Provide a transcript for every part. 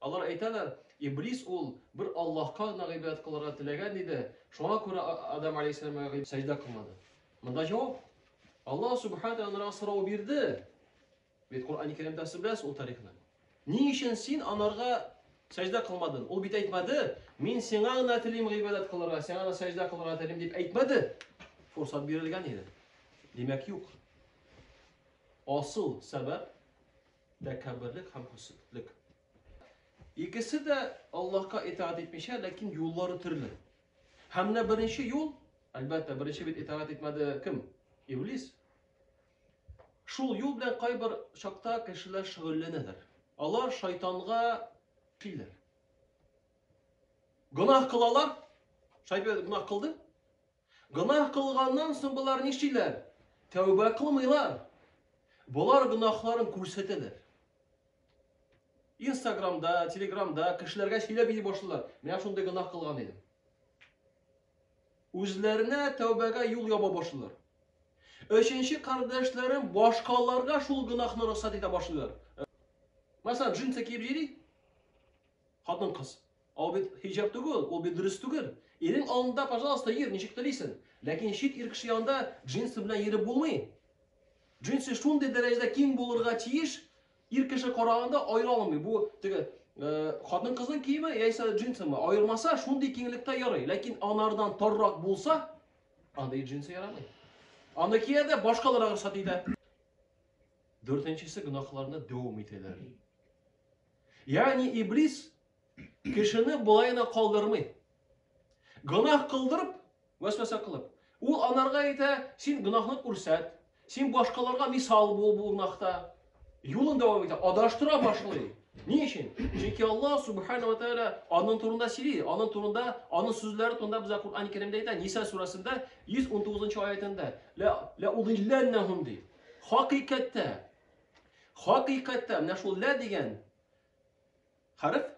Алар әйтәләр, Иблис ул бер Аллаһка гына гыйбадәт кылырга теләгән иде, шуңа күрә Адам алейһиссәламга сәҗдә кылмады. Монда җавап. Аллаһ субхана тәгаләгә сорау бирде. Бит Коръән-и Кәримдә сез ул тарихны. Ни өчен син анарга сәҗдә кылмадың? Ул бит әйтмәде, мин сиңа гына телим гыйбадәт кылырга, сиңа гына сәҗдә кылырга телим дип әйтмәде. Фурсат бирелгән иде. Димәк, юк. Асыл сәбәп Тәкәбберлек һәм хөсетлек. Икесе дә Аллаһка итаат итмичә, ләкин юллары төрле. Һәм менә беренче юл, әлбәттә, беренче бит итаат итмәде кем? Иблис. Шул юл белән кайбер чакта кешеләр шөгыльләнәләр. Алар шайтанга килер. Гөнаһ кылалар. Шайтан гөнаһ кылды. Гөнаһ кылганнан соң болар нишлиләр? Тәүбә кылмыйлар. Болар гөнаһларын күрсәтәләр. Инстаграмда, Телеграмда кешеләргә сөйләп йөри башлыйлар. Менә шундый гөнаһ кылган идем. Үзләренә тәүбәгә юл яба башлыйлар. Өченче кардәшләрем башкаларга шул гөнаһны рөхсәт итә башлыйлар. Мәсәлән, джинсы киеп йөри. Хатын-кыз. Ау бит хиҗап түгел, ул бит дөрес түгел. Ирең алдында, пожалуйста, йөр, ничек телисен. Ләкин чит ир кеше янында джинсы белән йөреп булмый. Джинсы шундый дәрәҗәдә киң булырга тиеш, ир кеше караганда аера алмый. Бу теге э, хатын кызның киеме яисә джинсымы, аермаса шундый киңлектә ярый. Ләкин анардан торрак булса, андый джинсы ярамый. Аны киядә башкаларга рөхсәт итә. Дүртенчесе гөнаһларны дәвам итәләр. Ягъни Иблис кешене болай гына калдырмый. Гөнаһ кылдырып, вәсвәсә кылып, ул анарга әйтә, син гөнаһны күрсәт, син башкаларга мисал бул бу гөнаһта. Юлын дәвам итә, адаштыра башлый. Ни өчен? Чөнки Аллаһ субхана ва тааля аның турында сөйли, аның турында, аның сүзләре турында безгә Куръан Кәримдә әйтә, Ниса сүрәсендә 119 нчы аятендә, ла ла удилланнахум ди. Хакыйкатьтә Хакыйкатьтә менә шул лә дигән хәреф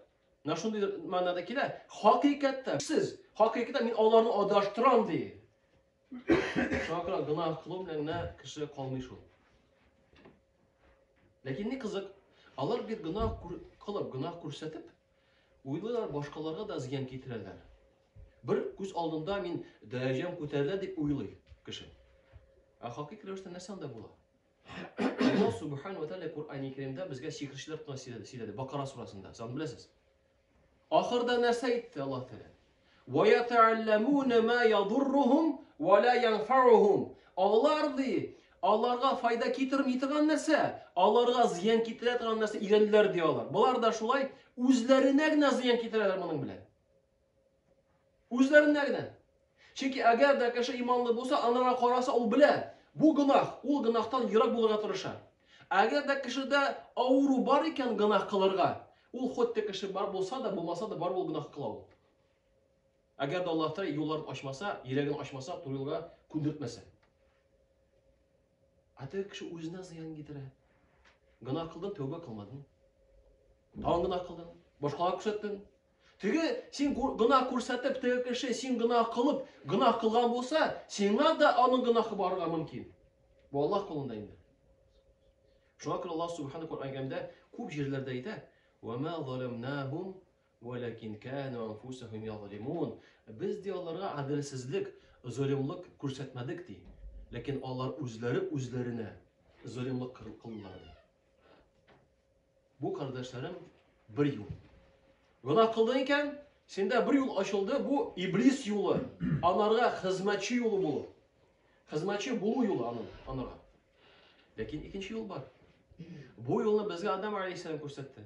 менә шундый мәгънәдә килә. Хакыйкатьтә сез хакыйкатьтә мин аларны адаштырам ди. Шуңа күрә гөнаһ кылу белән генә кеше калмый шул. Ләкин ни кызык, алар бит гөнаһ кылып, гөнаһ күрсәтеп, уйлыйлар башкаларга да зыян китерәләр. Бер күз алдында мин дәрәҗәм күтәрелә дип уйлый кеше. Ә хакыйкатьтә нәрсә анда була? Аллаһ субхана ва тааля Куръани Кәримдә безгә сихерчеләр турында сөйләде, сөйләде. Бакара сурасында. Сан беләсез. Ахырда нәрсә әйтте Аллаһ Тәгалә? Ва ятаалламуна ма ядуррухум ва ла янфаухум. Алар ди, аларга файда китерми торган нәрсә, аларга зыян китерә торган нәрсә өйрәнделәр ди алар. Болар да шулай үзләренә генә зыян китерәләр моның белән. Үзләренә генә. Чөнки әгәр дә кеше иманлы булса, анарга караса, ул белә, бу гөнаһ, ул гөнаһтан ерак булырга тырыша. Әгәр дә кешедә авыру бар икән гөнаһ кылырга, ул хоть кеше бар булса да, булмаса да, бар ул гөнаһ кыла ул. Әгәр дә Аллаһ Тәгалә юлларын ачмаса, йөрәген ачмаса, туры юлга күндертмәсә. Ә теге кеше үзенә зыян китерә. Гөнаһ кылдың, тәүбә кылмадың. Тагын гөнаһ кылдың, башкалар күрсәттең, Теге син гына күрсәтеп, теге кеше син гына кылып, гына кылган булса, сиңа да аның гынахы барырга мөмкин. Бу Аллаһ кулында инде. Шуңа күрә Аллаһ Субхану Коръән әйткәндә күп җирләрдә әйтә: "Ва ма заламнахум, валакин кану анфусахум язлимун". Без ди аларга адилсезлек, золымлык күрсәтмәдек ди. Ләкин алар үзләре үзләренә золымлык кылдылар. Бу кардәшләрем бер юл. Гына кылдың икән, сендә бер юл ачылды, бу иблис юлы, анарга хезмәтче юлы булу. Хезмәтче булу юлы аның, анарга. Ләкин икенче юл бар. Бу юлны безгә Адам алейхиссалам күрсәтте.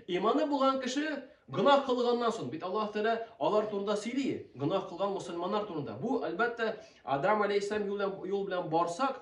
Иманы булган кеше гынах кылганнан соң, бит Аллаһ Тәгалә алар турында сөйли, гынах кылган мусульманнар турында. Бу, әлбәттә, Адам алейхиссалам юл белән барсак,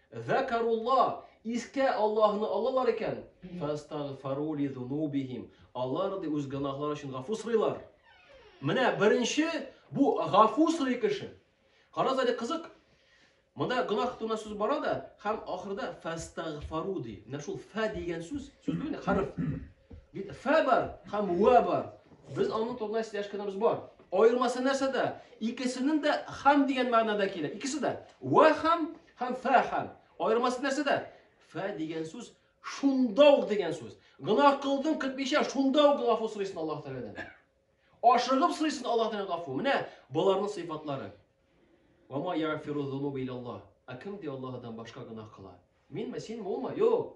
Закарулла, искә Аллаһны алалар икән, фәстагфару ли зунубихим, алар ди үз гөнаһлары өчен гафу сорыйлар. Менә беренче бу гафу сорый кеше. Карагыз әле кызык. Монда гөнаһ турында сүз бара да, һәм ахырда фәстагфару ди. Менә шул фә дигән сүз, сүз бит хәреф. Бит фә бар һәм ва бар. Без аның турында сөйләшкәнебез бар. Аермасы нәрсәдә? Икесенең дә хам дигән мәгънәдә килә. Икесе дә ва хам, Һәм фә хәл. Аермасы нәрсәдә? Фә дигән сүз шунда ук дигән сүз. Гынах кылдың көтмичә шунда ук гафу сорыйсың Аллаһ Тәгаләдән. Ашыгып сорыйсың Аллаһ Тәгаләдән гафу. Менә боларның сыйфатлары. Ва ма яфиру зунуба ил Аллаһ. Ә кем ди Аллаһдан башка гынах кыла? Минме, синме, улмы? Юк.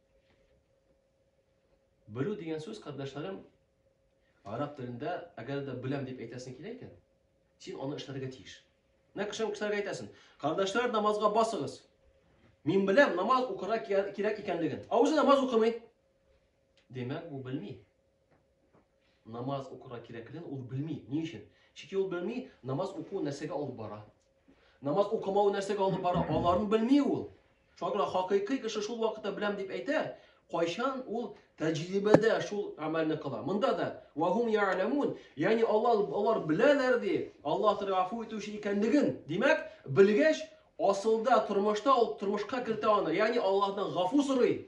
Белү дигән сүз, кардәшләрем, араб телендә, әгәр дә беләм дип әйтәсең килә икән, син аны эшләргә тиеш. Менә кешем кешеләргә әйтәсен. Кардәшләр, намазга басыгыз. Мин беләм, намаз укырга кирәк икәнлеген. Ә үзе намаз укымый. Димәк, бу белми. Намаз укырга кирәклеген ул белми. Ни өчен? Чөнки ул белми, намаз уку нәрсәгә алып бара. Намаз укымау нәрсәгә алып бара, аларын белми ул. Шуңа күрә хакыйкый кеше шул вакытта беләм дип әйтә, кайчан ул тәҗрибәдә шул гамәлне кыла. Монда да вахум я'ламун, ягъни алар алар беләләр ди, Аллаһ Тәгалә афу итүче икәнлеген. Димәк, белгәч, асылда тормышта ул тормышка кертә аны, ягъни Аллаһтан гафу сорый.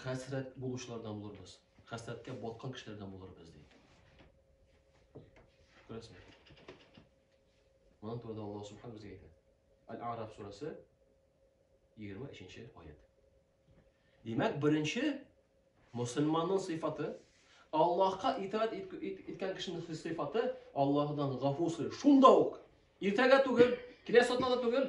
Хәсрәт булучылардан булырбыз. Хәсрәткә баткан кешеләрдән булырбыз, ди. Күрәсең. Монан турыда Аллаһ Субхан безгә әйтә. Аль-Араб сүрәсе 23-нче аят. Димәк, беренче мусульманның сыйфаты Аллаһка итаат иткән кешенең сыйфаты Аллаһдан гафу сорый. Шунда ук. Иртәгә түгел, киләсе атнада түгел,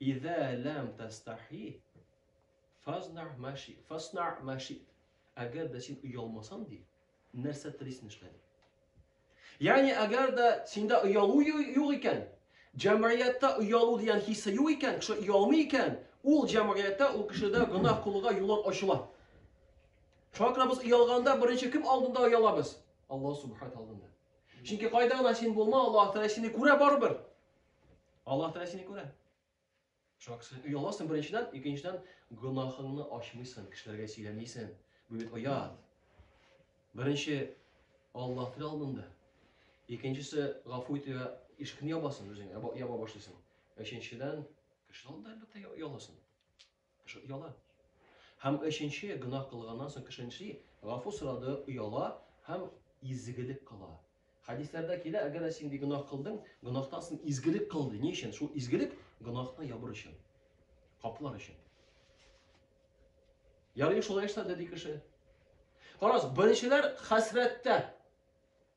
Иза ләм тастахи фазна маши фасна маши. Әгәр дә син оялмасаң ди, нәрсә телисен эшлә ди. Ягъни әгәр дә синдә оялу юк икән, җәмгыятьтә оялу дигән хиссе юк икән, кеше оялмый икән, ул җәмгыятьтә ул кешедә гөнаһ кылуга юллар ачыла. Шуңа күрә без оялганда беренче кем алдында оялабыз? Алла субханә алдында. Чөнки кайда гына син булма, Аллаһ Тәгалә сине күрә барыбер. Аллаһ Тәгалә сине күрә. Шуңа күрә ояласың беренчедән, икенчедән гөнаһыңны ачмыйсың, кешеләргә сөйләмисең. Бу бит оят. Беренче Аллаһ Тәгалә алдында. Икенчесе гафу итүгә ишекне ябасың үзеңә, яба башлыйсың. Өченчедән кеше алдында әлбәттә ояласың. Кеше ояла. Һәм өченче, гөнаһ кылганнан соң кеше нишли? Гафу сорады, ояла һәм изгелек кыла. Хәдисләрдә килә, әгәр дә син ди гөнаһ кылдың, гөнаһтан соң изгелек кыл ди. Ни өчен? Шул изгелек гөнаһны ябыр өчен. Каплар өчен. Ярый шулай эшләде ди кеше. Карагыз, беренчеләр хәсрәттә.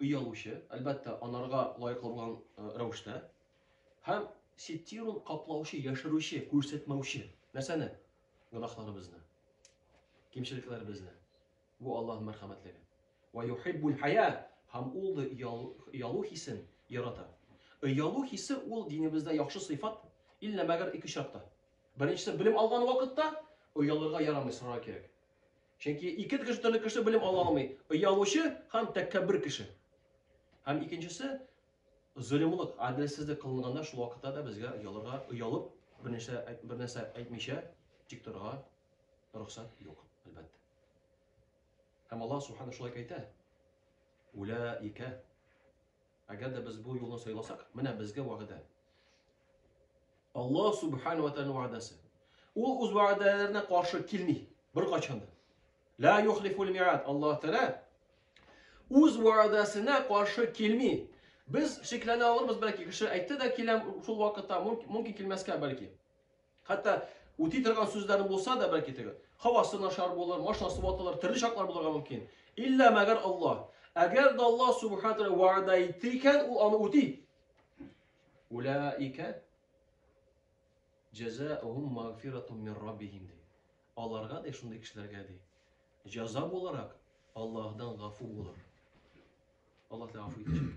Оялучы, әлбәттә, анарга лаеклы булган рәвештә. Һәм ситирун каплаучы, яшерүче, күрсәтмәүче. Нәрсәне? Гөнаһларыбызны, кимчелекләребезне. Бу Аллаһ мәрхәмәтлеге. Ва юхиббул хая, һәм ул да оялу хисен ярата. Оялу хисе ул динебездә яхшы сыйфат, иллә мәгәр ике очракта. Беренчесе, белем алган вакытта оялырга ярамый, сорарга кирәк. Чөнки ике кеше төрле кеше белем ала алмый. Оялучы һәм тәкәббер кеше. Һәм икенчесе зөлемлык, адилсезлек кылынганда шул вакытта да безгә оялырга, оялып, бернәрсә бернәрсә әйтмичә тик торырга рөхсәт юк, әлбәттә. Һәм Аллаһ субхана шулай әйтә. Улаика Әгәр дә без бу юлны сайласак, менә безгә вәгъдә. Аллаһ субхана ва тааля вәгъдәсе. Ул үз вәгъдәләренә каршы килми беркайчан да. Ла юхлифул миат. Аллаһ тааля үз вәгъдәсенә каршы килми. Без шикләнә алырбыз, бәлки кеше әйтте дә киләм шул вакытта, мөмкин килмәскә бәлки. Хәтта үти торган сүзләре булса да бәлки теге һавасы начар булыр, машинасы ватылыр, төрле чаклар булырга мөмкин. Илля мәгәр Аллаһ. Әгәр дә Аллаһ субхана тәгалә вәгъдә итте икән, ул аны үти. Улаика җәзаухум магфиратум мир раббихим ди. Аларга да шундый кешеләргә ди. Җаза буларак Аллаһдан гафу булыр. Аллаһ тәгалә гафу итәчәк.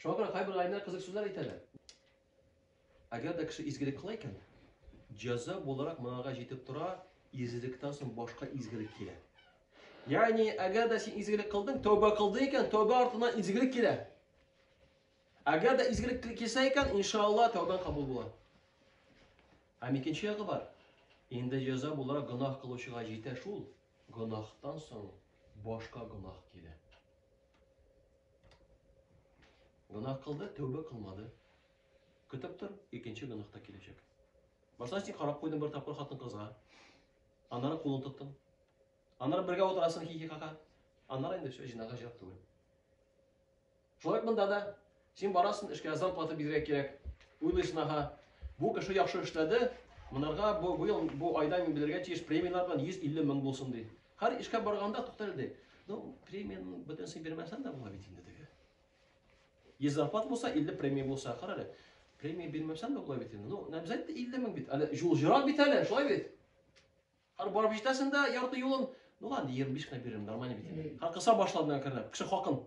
Шуңа күрә кайбер галимнәр кызык сүзләр әйтәләр. Әгәр дә кеше изгелек кыла икән, җәза буларак монага җитеп тора, изгелектән соң башка изгелек килә. Ягъни, әгәр дә син изгелек кылдың, тәүбә кылдың икән, тәүбә артыннан изгелек килә. Әгәр дә изгелек килсә икән, иншалла, тәүбәң кабул була. Һәм икенче ягы бар. Инде җәза буларак гөнаһ кылучыга җитә шул. Гөнаһтан соң башка гөнаһ килә. Гөнаһ кылды, тәүбә кылмады. Көтеп тор, икенче гөнаһ та киләчәк. Башта син карап куйдың бер тапкыр хатын кызга. Аннары кулын тоттың. Аннары бергә утырасың хихихаха. Аннары инде все, җинага җыяк түгел. Шулай ук монда да син барасың, эшкә зарплата бирергә кирәк. Уйлыйсың, ага, бу кеше яхшы эшләде, монарга бу, бу, ел, бу айда мин бирергә тиеш премияләр белән 150 мең булсын ди. Һәр эшкә барганда туктале ди. Ну, премияны бөтенсен бирмәсәң дә була бит инде теге. 100 зарплат булса, 50 премия булса, карале. Премия бирмәсәң дә була бит инде. Ну, обязательно 50 мең бит. Әле җул җырак бит әле, шулай бит. Хәр барып җитәсен дә ярты юлын. Ну ладно, 25 кына биререм, нормально бит инде. Хәр кыса башлады миңа керде. Кеше хакын.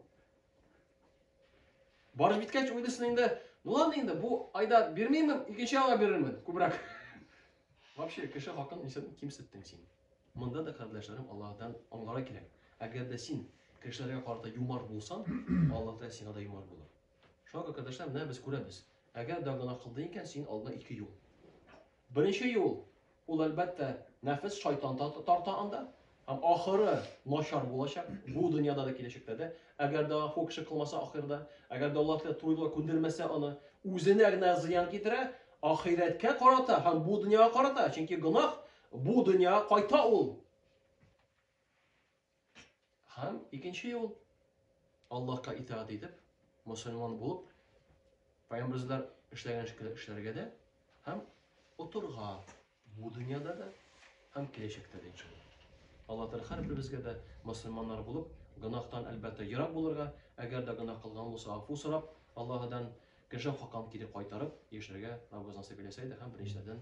Барып җиткәч уйлысын инде. Ну ладно инде, бу айда бирмеймен, икенче айга бирермен, күбрәк. Вообще, кеше хакын нисән кимсеттең син? Монда да кардәшләрем Аллаһдан аңлара кирәк. Әгәр дә син кешеләргә карата юмар булсаң, Аллаһ та сиңа да юмар булыр. Шуңа күрә кардәшләр, менә без күрәбез. Әгәр дә гына кылды икән, син алдына ике юл. Беренче юл, ул әлбәттә, нәфес, шайтан тарта анда. Һәм ахыры начар булачак, бу дөньяда да, киләчәктә дә. Әгәр дә ул кеше кылмаса ахырда, әгәр дә Аллаһ туйлыга күндермәсә аны, үзенә генә зыян китерә, ахирәткә карата һәм бу дөньяга карата, чөнки гөнаһ бу дөньяга кайта ул. Һәм икенче юл, Аллаһка итаат итеп, мусульман булып, пайгамбарыбызлар эшләгән шикелле эшләргә дә һәм утырга бу дөньяда да һәм киләчәктә дә иншалла. Алла Тәгалә һәрберебезгә дә мусульманнар булып, гөнаһтан әлбәттә ерак булырга, әгәр дә гөнаһ кылган булса, афу сорап, Аллаһыдан кеше хакын кире кайтарып яшәргә Раббыбыз насыйп итсә иде һәм беренчеләрдән